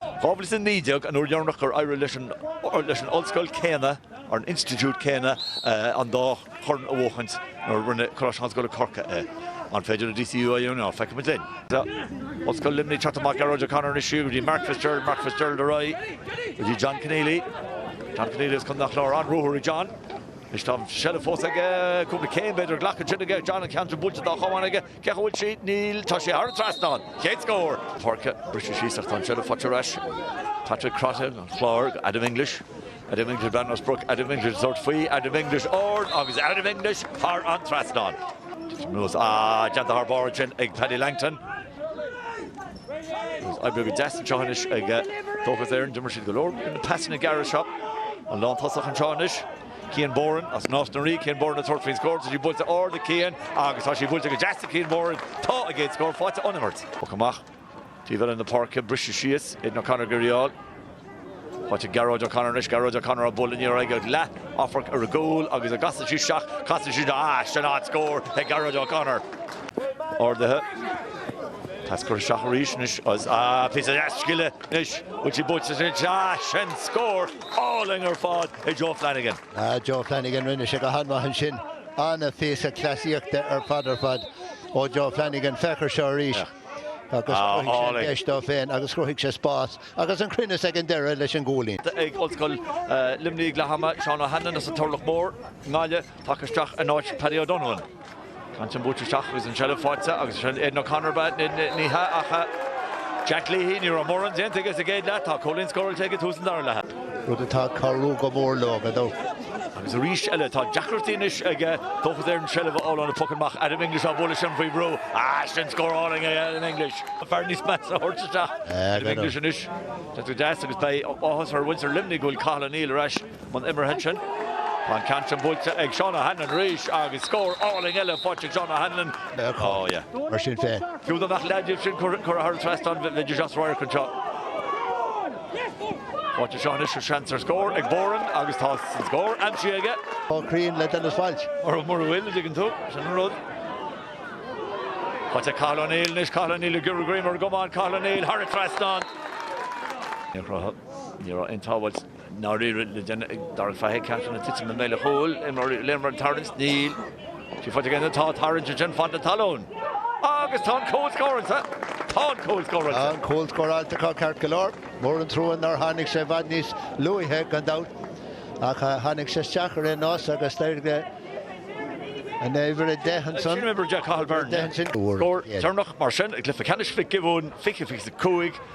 Dhá mhíle is a naoi déag an uair dheireanach gur éirigh leis an ollscoil chéanna, an institiúid chéanna, an dá chorn a bhuachaint nuair a rinne Coláiste na hOllscoile Corcaigh é. An féidir le DCU é a dhéanamh? Feicfimid linn. Tá Ollscoil Luimnigh ag teacht amach, Gearóid O'Connor anois siar go dtí Mark Fitzgerald, Mark Fitzgerald ar aghaidh go dtí John Conneally, John Conneally as Contae an Chláir, an-ruathar ag John. Anois tá an tseilbh fós aige, cúpla céim b'fhéidir, glactha ansin aige, John an ceann sin buailte dá chamán aige, Féach an bhfuil sí, níl, tá sí thar an trasnán, chéad scór. páirce, briseadh síos ach tá an seilbh faighte ar ais. Patrick Crotty an Chláir go Adam English, Adam English Bean Ros Bruic, Adam English ag tabhairt faoi, Adam English ard agus Adam English thar an trasnán. Titim anuas, ah, déanta thar barr ansin ag Paddy Langton. Agus oibrithe go deas anseo anois ag Dóchas Éireann, d'imir siad go leor na pasanna gearra seo. An lántosach anseo anois. Cian Boran as Nás na Rí, Cian Boran ag tabhairt faoin scór, tá sí buailte ard ag Cian agus tá sí buailte go deas ag Cian Boran, tá a gcéad scór faighte ón imirt. Poc amach taobh eile na páirce, briseadh síos, Aidan O'Connor ag iarraidh í a fháil. Faighte ag Gearóid O'Connor anois, Gearóid O'Connor á bualadh aniar aige agus leathamharc ar an gcúl agus an gcasann sí isteach, casann sí isteach, ah, sin an scór ag Gearóid O'Connor. Ardaithe, pas curtha isteach arís anois, ah, píosa deas scile anois, bhfuil sí buailte anois, ah, sin scór! álainn ar fad ag Joe Flanagan. Ah, Joe Flanagan, rinne sé go han-mhaith ansin. An-phíosa cleasaíochta ar fad ar fad ó Joe Flanagan. Féach air seo arís agus chruthaigh sé an deis dó féin agus chruthaigh sé spás agus an-chruinneas ag an deireadh leis an gcúilín. ag Ollscoil Luimnigh leath ama, Seán Ó hAnluain as an Turlach Mór i nGaillimh, tagtha isteach in áit Paddy O'Donovan. Ceann sin buailte isteach agus an seilbh faighte agus sin Aidan O'Connor ab ea é. Ní hea ach Jack Leahy. Ní raibh mórán déanta aige sa gcéad leath. Tá cúilín scóráilte aige ag tús an dara leatha. Rud atá ag cabhrú go mór leo gan dabht. Agus arís eile tá deacrachtaí anois ag Dóchas Éireann seilbh a fháil óna bpocanna amach. Adam English á bhualadh sin faoi bhrú. Ah sin scór álainn ó Adam English. An fear níos measa a thabhairt isteach. Adam English anois. Tá tú deas agus beidh áthas ar mhuintir Luimnigh go bhfuil Cathal O'Neill ar ais. an imeartha ansin. Tá an ceann sin buailte ag Seán O'Hanlon arís agus scór álainn eile faighte ag Seán O'Hanlon. Mar sin féin. Fiú dá mbeadh an leath díobh sin curtha thar an trasnán, bheidís as radharc anseo. Faighte anseo anois ar sheans ar scór ag Boran agus tá an scór aimsithe aige. Chomh cruinn le Denis Walsh. Mura bhfuil, an dtuigeann tú, sin an rud. Faighte ag Cathal O'Neill anois, Cathal O'Neill ag iarraidh greim ar an gcamán, Cathal O'Neill thar an trasnán. Ní raibh aon tsábháilt. Nár éirigh le duine darbh ainm Fahy ceann sin ag titim i mbéal an chúil, imreoirí Léana Mar an tarraingt? Níl sí faighte ag éinne, tá tarraingt ansin fad na talún. Agus tá an cúl scóráilte! Tá an cúl scóráilte! Tá an cúl scóráilte acu ceart go leor. Mór an trua nár tháinig sé i bhfad níos luaithe gan dabht. Ach tháinig sé isteach ar aon nós agus d'éirigh le an uimhir a deich ansan. Sin uimhir a deich Cathal Beirne. Scór deireanach mar sin ag cluiche ceannais Mhic Giobúin, 2025.